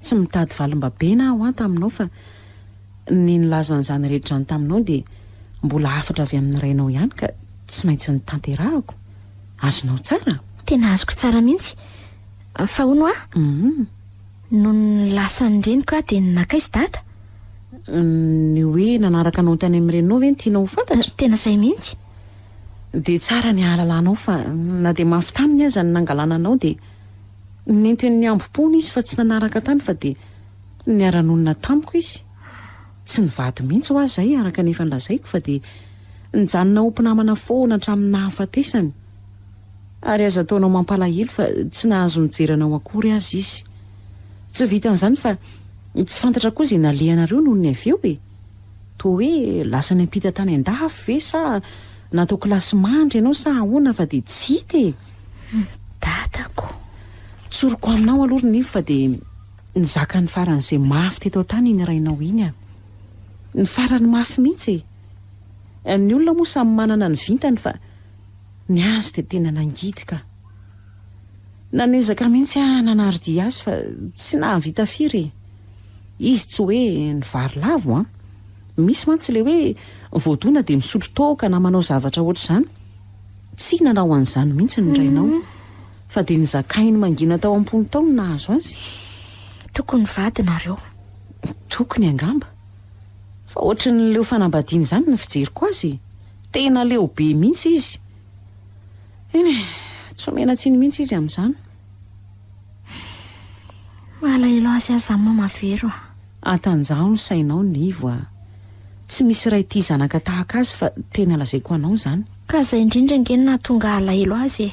Tsy mitady valimbabena aho an taminao fa ny nilaza an'izany rehetra izany taminao dia mbola hafatra avy amin'ny rainao ihany ka tsy maintsy notanterahako. Azonao tsara? Tena azoko tsara mihitsy. Fa hono hoa? Hum. Nony lasa ny reniko aho dia nakaiza dada? Ny hoe nanaraka anao tany amin'ny reninao ve no tianao ho fantatra? Tena izay mihitsy. Dia tsara ny hahalalanao fa na dia mafy taminy aza ny nangalana anao dia nentiny nihambo-poana izy fa tsy nanaraka tany fa dia niara-nonina tamiko izy. Tsy nivady mihitsy hoa zay araka ny efa nolazaiko fa dia nijanona ho mpinamana foana hatramin'ny nahafatesany. Ary aza ataonao mampalahelo fa tsy nahazo nijery anao akory aza izy. Tsy vitan'izany fa tsy fantatra koa izay nalehanareo nony avy eo e! Toa hoe lasa niampita tany an-dafy ve sa natao kilasy mandry ianao sa ahoana fa dia tsy hita e! Dadako! Tsoriko aminao aloha ry Nivo fa dia nizaka ny faran'izay mafy teto an-tany iny rainao iny an! Ny farany mafy mihitsy e! Ny olona moa samy manana ny vintany fa ny azy dia tena nangidy ka! Nanezaka mihitsy aho nanaro-dia azy fa tsy nahavita firy e! Izy tsy hoe ny vary lavo an! Misy mantsy ilay hoe voadona dia misotro toaka na manao zavatra hoatr'izany. Tsy nanao an'izany mihitsy ny rainao. Fa dia nizakainy mangina tao am-pony tao ny nahazo azy. Tokony vady nareo. Tokony angamba. Fa hoatry ny leo fanambadiana izany ny fijeriko azy. Tena leo be mihitsy izy. Eny e, tsy omena tsiny mihitsy izy amin'izany. Malahelo azy aza aho mama vero a. Atanjaho ny sainao Nivo a. Tsy misy ray tia zanaka tahaka azy fa tena lazaiko anao zany. Ka zay indrindra ange no nahatonga alahelo azy e.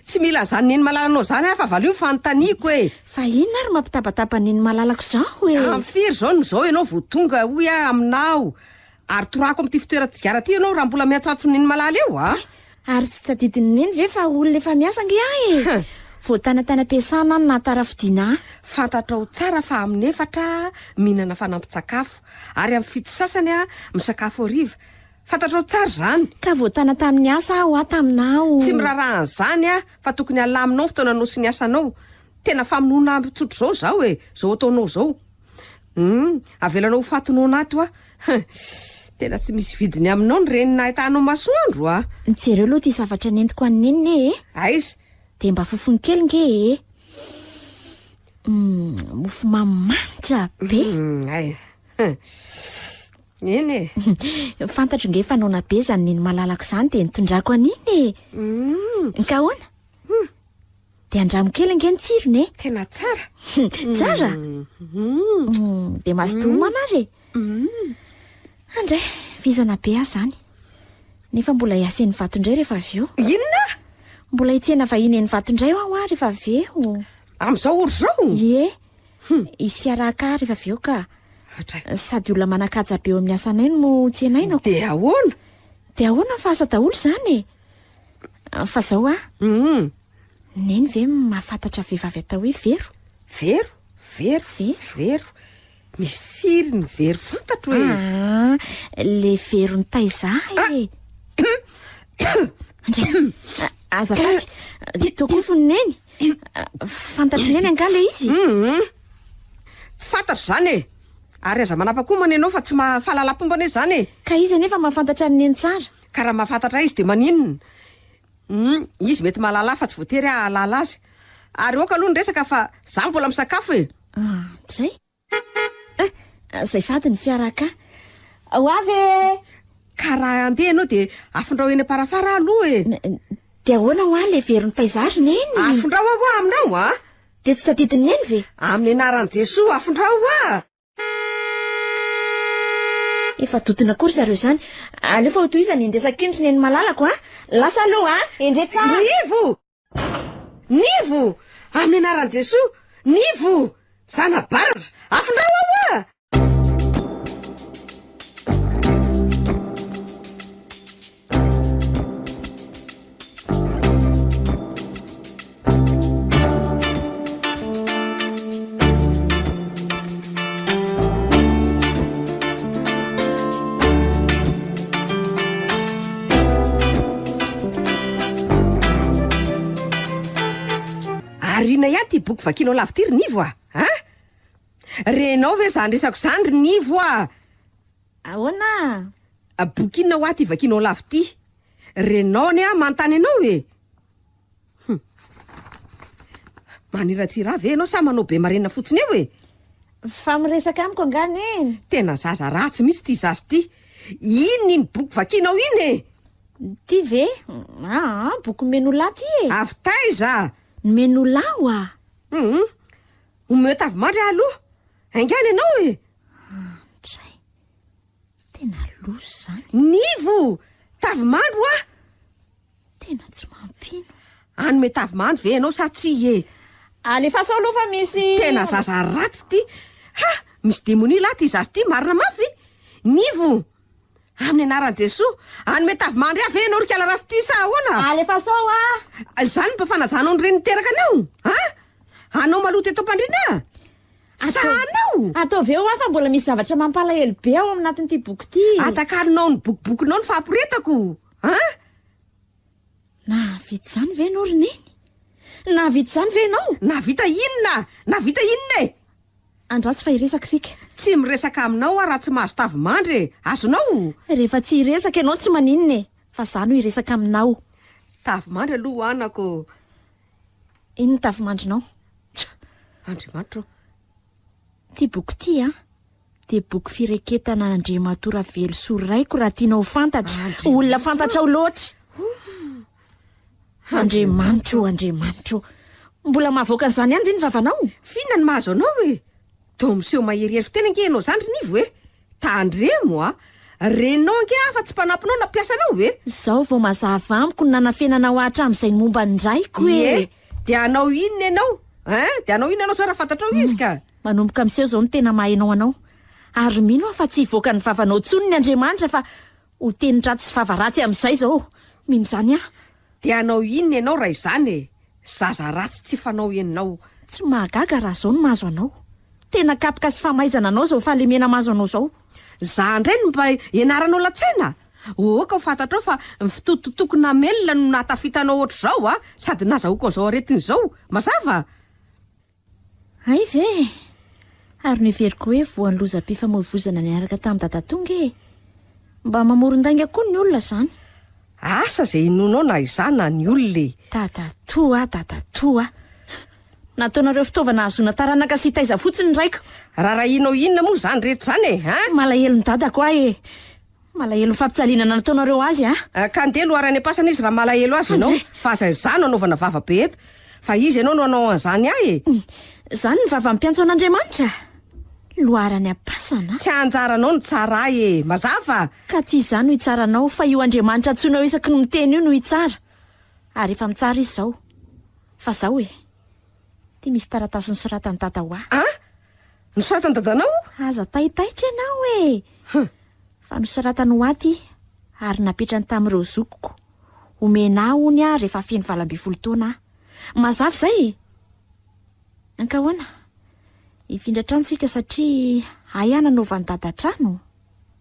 Tsy mila an'izany Neny malalanao izany aho fa valio ny fanontaniako e! Fa inona ary mampitabataba Neny malalako izao e! Amin'ny firy izao no izao ianao vao tonga hoy aho aminao ary torahako amin'ity fitoeran-tsigara ity ianao raha mbola miantsoantso Neny malala eo a! Ary tsy tadidin'i Neny ve fa olona efa miasa ange aho e! Voatana tany am-piasana aho no nahatarafidiana ahy. Fantatrao tsara fa amin'ny efatra aho mihinana fanampin-tsakafo ary amin'ny fito sasany aho misakafo hariva Fantatrao tsara izany. Ka voatàna tamin'ny asa aho aho taminao. Tsy miraharaha an'izany aho fa tokony halaminao ny fotoananao sy ny asanao. Tena famonoana andro tsotra izao izaho e, izao ataonao izao. Humm, avelanao ho faty noana ato aho. Humm, tena tsy misy vidiny aminao ny reny nahitanao masoandro a! Jereo aloha ity zavatra nentiko an'i Neny e! Aiza? Dia mba fofony kely nge e! Humm, mofomamy manitra be! Humm, ay. Humm. Eny e! Fantatro nge fa noana be zany neny malalako zany de nitondrako an'iny e! Hum! Ka ahoana? Hum! De andramo kely nge ny tsirony e! Tena tsara! Tsara? Hum! De mazotoa homana ary e! Hum! Andray, vizana be aho zany! Nefa mbola hiasa eny Ivato indray rehefa avy eo! Inona? Mbola hitsena vahiny eny Ivato indray hoa rehefa avy eo! Amin'izao ory izao? Ie! Hum, hisy fiaraha-kà rehefa avy eo ka. Hatray. Sady olona manan-kaja be eo amin'ny asanay no tsenainako. Dia ahoana? Dia ahoana fa asa daholo izany e! Fa izao a, Hum, Neny ve mahafantatra vehivavy atao hoe Vero? Vero, Vero, Vero. Vero. Misy firy ny Vero fantatro e! Ah, le Vero nitaiza ahy e! Ndray, a- azafady, tokoa fony neny. Fantatry neny angaha le izy? Hum, tsy fantatro izany e. Ary aza manapa-komana ianao fa tsy maha fahalalampomba anie izany e. Ka izy anefa mahafantatra an'i neny tsara. Ka raha mahafantatra ahy izy dia maninona? Hum, izy mety mahalala ahy fa tsy voatery aho hahalala azy. Ary aoka aloha ny resaka fa izaho mbola misakafo e. Ah, dray. Ah, izay sady ny fiara ka. Ho avy e! Ka raha andeha ianao dia afindrao eny Amparafara aho aloha e. Dia ahoana hoa ilay veron'i Paizary neny? Afindrao aho hoa aminao a! Dia tsy tadidin'i neny ve? Amin'ny anaran'i Jesoa afindrao hoa! Efa dodona koa ry zareo izany. Aleo fa hotohizany ny resaky ny ry neny malalako a! Lasa aloha a! Endrey tsara! Ry Ivo! Nivo! Amin'ny anaran'i Jesoa! Nivo! Zana baratra! Afindrao ao a! Ary inona ihany ity boky vakianao lavo ity ry Nivo a! A! Renao ve izany resako izany ry Nivo a! Ahoana a! Boky inona hoa ity vakianao lavo ity? Renao anie aho manontany anao e! Hum. Maniratsira ve ianao sa manao be marenina fotsiny eo e? Fa miresaka amiko angaha neny? Tena zaza ratsy mihitsy ity zaza ity. Inona iny boky vakianao iny e? Ty ve? Aa, boky Menolà ty e. Avy taiza? Ny Menolà wa. Hum. Omeo tavimandry aho aloha. Haingana ianao e. Andray. Tena loza izany. Nivo! Tavimandry wa. Tena tsy mampino. Hanome tavimandry ve ianao sa tsia e? Alefaso aloha fa misy. Tena zaza ratsy ity. Ha! Misy demonia lahy ity zaza ity, marina mafy. Nivo! Amin'ny anaran'i Jesoa, hanome tavimandry ahy ve ianao ry kalarasy ity sa ahoana? Alefaso a! Izany mba fanajanao ny reniny teraka anao? Ha? Anao maloto eto am-pandriana? Sa anao? Ataovy eo aho fa mbola misy zavatra mampalahelo be ao anatin'ity boky ity. Atakarinao ny bokibokinao ny fahaporetako. An! Nahavita izany ve ianao ry Neny? Nahavita izany ve ianao? Nahavita inona? Nahavita inona e? Andraso fa hiresaka isika. Tsy miresaka aminao aho raha tsy mahazo tavimandry e! Azonao? Rehefa tsy hiresaka ianao tsy maninona e! Fa izaho no hiresaka aminao. Tavimandry aloha ho anako. Iny ny tavimandrinao. Tch! Andriamanitra ô! Ity boky ity an! dia boky fireketana Andriamatoa Ravelosoa Raiko raha tianao ho fantatra. Olona fantatrao loatra. Andriamanitra ô, Andriamanitra ô. Mbola mahavoaka an'izany ihany ve ny vavanao? F'inona no mahazo anao e? Toa miseho maherihery fiteny ange ianao izany ry Nivo e! Tandremo a! Renao ange aho fa tsy mpanampinao na mpiasanao e! Izao vao mazava amiko ny nanafenanao ahy hatramin'izay ny momba ny raiko e! Ie, dia hanao inona ianao? Ein, dia hanao inona ianao izao raha fantatrao izy ka? Manomboka miseho izao ny tena maha ianao anao. Ary mino aho fa tsy hivoaka ny vavanao intsony ny Andriamanitra fa ho teny ratsy sy vava ratsy amin'izay izao. Mino izany aho. Dia hanao inona ianao raha izany e? Zaza ratsy tsy fanao ianao. Tsy mahagaga raha izao no mahazo anao. Tena kapoka sy famaizana anao izao fahalemena mahazo anao izao. Izaho indray no mba ianaranao latsena? Ohoka ho fantatrao fa ny fitototoako namelona no nahatafitanao ohatr'izao a! Sady nazahoako an'izao aretina izao. Mazava? Hay ve e! Ary noheveriko hoe voan'ny lozam-pifamoivoizana niaraka tamin'i Dadatonga e! Mba mamoron-dainga koa ny olona izany. Asa izay inoanao na izaho na ny olona e! Dadatoa a, Dadatoa a! Nataonareo fitaovana hahazoana taranaka sy hitaiza fotsiny ny raiko! Raharahianao inona moa izany rehetra izany e! An! Malahelon'i Dadako ahy e! Malahelo ny fampitsalinana nataonareo azy a! Ka ndeha loharaha any am-pasana izy raha malahelo azy ianao fa aza izaho no anaovana vava be eto fa izy ianao no hanao an'izany ahy e! Izany ny vava amim-piantso an'Andriamanitra? Loharaha any am-pasana? Tsy anjaranao ny hitsara ahy e! Mazava? Ka tsy izaho no hitsara anao fa io Andriamanitra antsoinao isaky ny miteny io no hitsara. Ary efa mitsara izy izao. Fa izao e! Ity misy taratasy nosoratan'i dada hoa. Ah! Nosoratan'i dadanao? Aza taitaitra ianao e! Huh! Fa nosoratany hoa ity, ary napetrany tamin'ireo zokiko. Omena ahy hono aho rehefa feno valo ambin'ny folo taona aho. Mazava izay e! Ankahoana? Hifindra trano isika satria ahy aho nanaovan'i dada trano.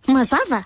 Mazava?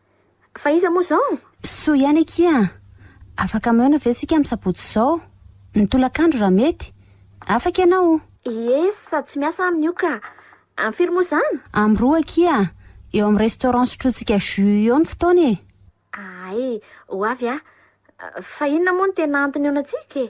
Fa iza moa izao? Soa ihany akia an! Afaka mihaona ve isika amin'ny sabotsy izao? Ny tolakandro raha mety? Afaka ianao? Ie, sady tsy miasa aminy io ka! Amin'ny firy moa izany? Amin'ny roa akia an! Eo amin'ny restaurant sotrointsika jus eo ny fotoana e! Hay, ho avy aho. Fa inona moa no tena antony ihaonantsika e?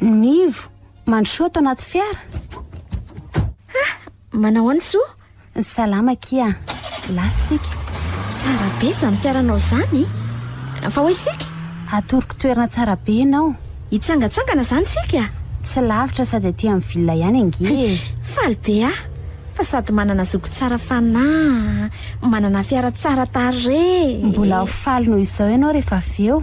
Nivo, mandrosoa ato anaty fiara. Ha, manahoana Soa? Salama Kia, lasa isika. Tsara be izany fiaranao izany. Fa hoy isika? Atoroko toerana tsara be ianao. Hitsangatsangana izany isika? Tsy lavitra sady aty amin'ny villa ihany ange e. Faly be aho fa sady manana zoky tsara fanahy, manana fiara tsara tarehy. Mbola ho faly noho izao ianao rehefa avy eo.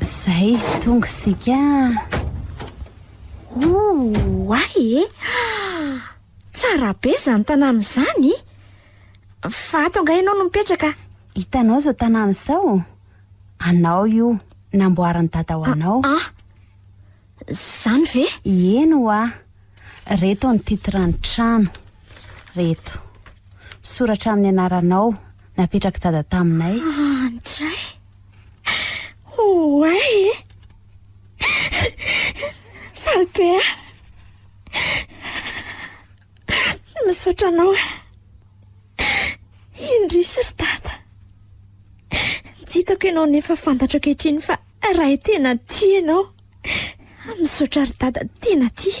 Zay, tonga isika. Oay e! Tsara be izany tanàna izany! Fa ato angaha ianao no mipetraka? Hitanao izao tanàna izao? Anao io, namboarin'i dada ho anao. Ah, ah. Zany ve? Eny hoa. Reto ny titre ny trano. Reto. Soratra amin'ny anaranao, napetrak'i dada taminay. Ah, ndray. Oay e! Faly be aho. Misaotra anao. Indrisy ry dada. Tsy hitako ianao nefa fantatro ankehitriny fa raha tena tia ianao. Misaotra ry dada tena tia.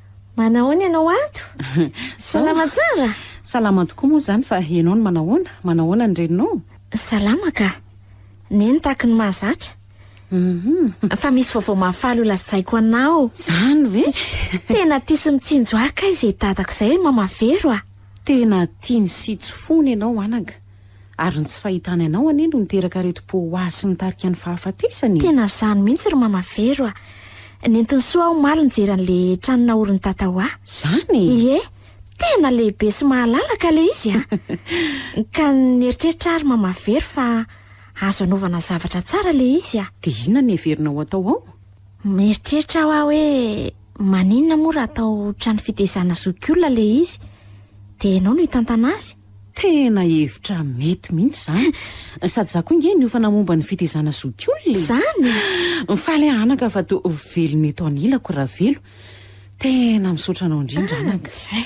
Manahoana ianao ato? Salama tsara? Salama tokoa moa izany fa ianao no manahoana? Manahoana ny reninao? Salama ka. Neny tahaky ny mahazatra. Fa misy vaovao mahafaly ho lazaiko anao. Izany ve? Tena tia sy mitsinjo ahy kay izay dadako izay hoe Mama Vero a! Tena tiany sy tsy fony ianao anaka. Ary ny tsy fahitany anao anie no niteraka aretim-po ho ahy sy nitarika ny fahafatesany e! Tena zany mihitsy ry mama Vero a! Nentin'i Soa aho omaly nijery an'le trano naorin'i Tata ho ahy. Zany e! Ie, tena lehibe sy mahalalaka le izy a! Ka nieritreritra aho ry mama Vero fa azo anaovana zavatra tsara le izy a! Dia inona no heverina ho atao ao? Mieritreritra aho hoe maninona moa raha atao trano fitezana zokiolona le izy? Dia ianao no hitantana azy? Tena hevitra mety mihitsy izany. Sady za koa nge niofana momba ny fitezana zokiolona e! Zany? Mifaly aho anaka fa to ho velona eto anilako Ravelo. Tena misaotra anao indrindra anaka. Tsay.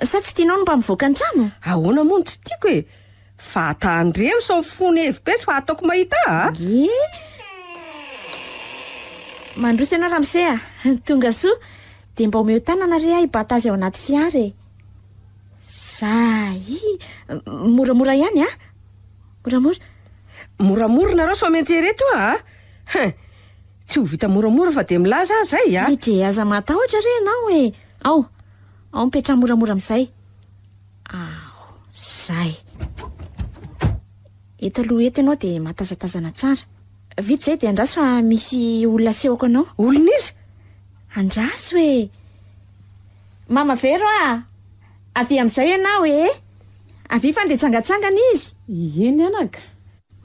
Sa tsy tianao ny mba mivoaka an-trano? Ahoana moa no tsy tiako e! Fa tandremo sao fony hevi be sy fa ataoko mahita a! Ie! Mandroso ianao ramose a! Tonga soa! Dia mba omeo tanana re ahy bata azy ao anaty fiara e! Zay! Moramora ihany a! Moramora! Moramora nareo sao miantsea ireto a! Hein! Tsy ho vita moramora fa dia milaza aho izay a! Edrey aza matahotra re ianao e! Ao! Ao mipetraha moramora amin'izay. Aho, zay. Eto aloha eto ianao dia mahatazatazana tsara. Vita izay dia andraso fa misy olona asehoko anao. Olona iza? Andraso e. Mama Vero a! Ah. Avia amin'izay ianao e. Avia fa ndeha tsangatsangana izy. Ieny anaka.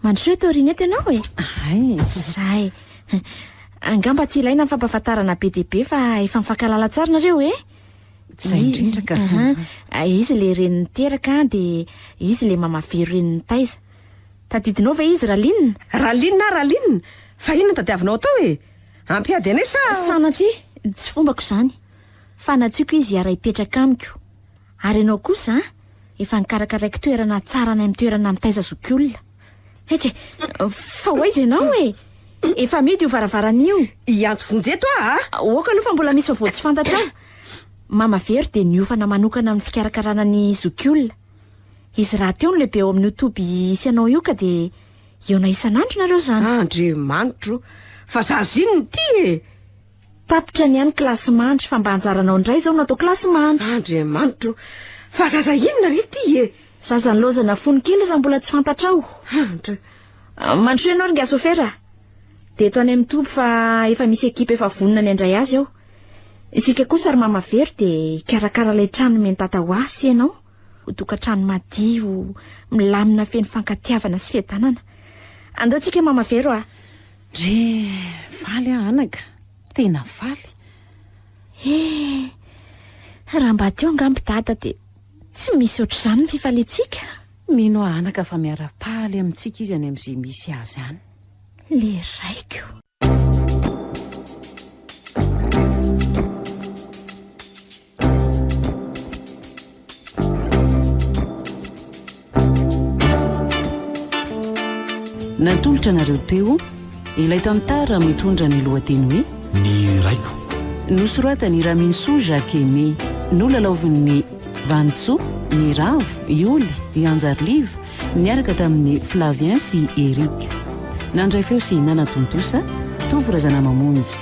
Mandrosoa eto aoriana eto ianao e! Hay! Izay. Angamba tsy ilaina ny fampahafantarana be dia be fa efa mifankahalala tsara nareo e! Izay indrindra ka. Aha. Izy ilay renin'i Teraka dia izy ilay mamavero renin'i Taiza. Tadidinao ve izy Raline? Raline na Raline? Fa inona no tadiavinao atao e? Hampiady anay sa? Sanatria! Tsy fombako izany. Fanatsiako izy hiara-hipetraka amiko. Ary ianao kosa an! Efa nikarakaraiko toerana tsara any amin'ny toerana mitaiza zokiolona. Heky e! Fa ho aiza ianao e? Efa amidy io varavarana io. Hiantso vonjy eto aho a! Aoka aloha fa mbola misy vaovao tsy fantatra ao. Mama Vero dia niofana manokana amin'ny fikarakarana ny zokiolona. Izy rahateo no lehibe ao amin'io toby hisy anao io ka dia hihaona isan'andro nareo izany. Andriamanitro o! Fa zaza inona ity e? Tapitra ny any kilasy mandry fa mba anjaranao indray izao no atao kilasy mandry. Andriamanitra o! Fa zaza inona re ity e? Zaza nilaozana fony kely raha mbola tsy fantatrao. Hantra. Mandrosoa ianao ry ngasofera a! Dia eto any amin'ny toby fa efa misy ekipa efa vonona ny handray azy ao. Isika kosa ry mama Vero dia hikarakara ilay trano nomen'i tata ho ahy sy ianao. Ho tokantrano madio, milamina feno fankatiavana sy fiadanana. Andao tsika mama Vero a! Re, Faly aho anaka, tena faly. Eh, raha mba teo angamba i Dada dia tsy misy ohatr'izany ny fifaliantsika. Mino aho anaka fa miara-paly amintsika izy any amin'izay misy azy any. Le raiko. Natolotra anareo teo ilay tantara mitondra ny lohateny hoe Ny Raiko. Nosoratan'i Raminisoa Jacques Aimé. Nolalaovin'i Vanintsoa, Ny Ravo, Ioly, i Hanjariliva niaraka tamin'i Flavien sy Eric. Nandray feo sy nanatontosa, Tovo Razanamamonjy.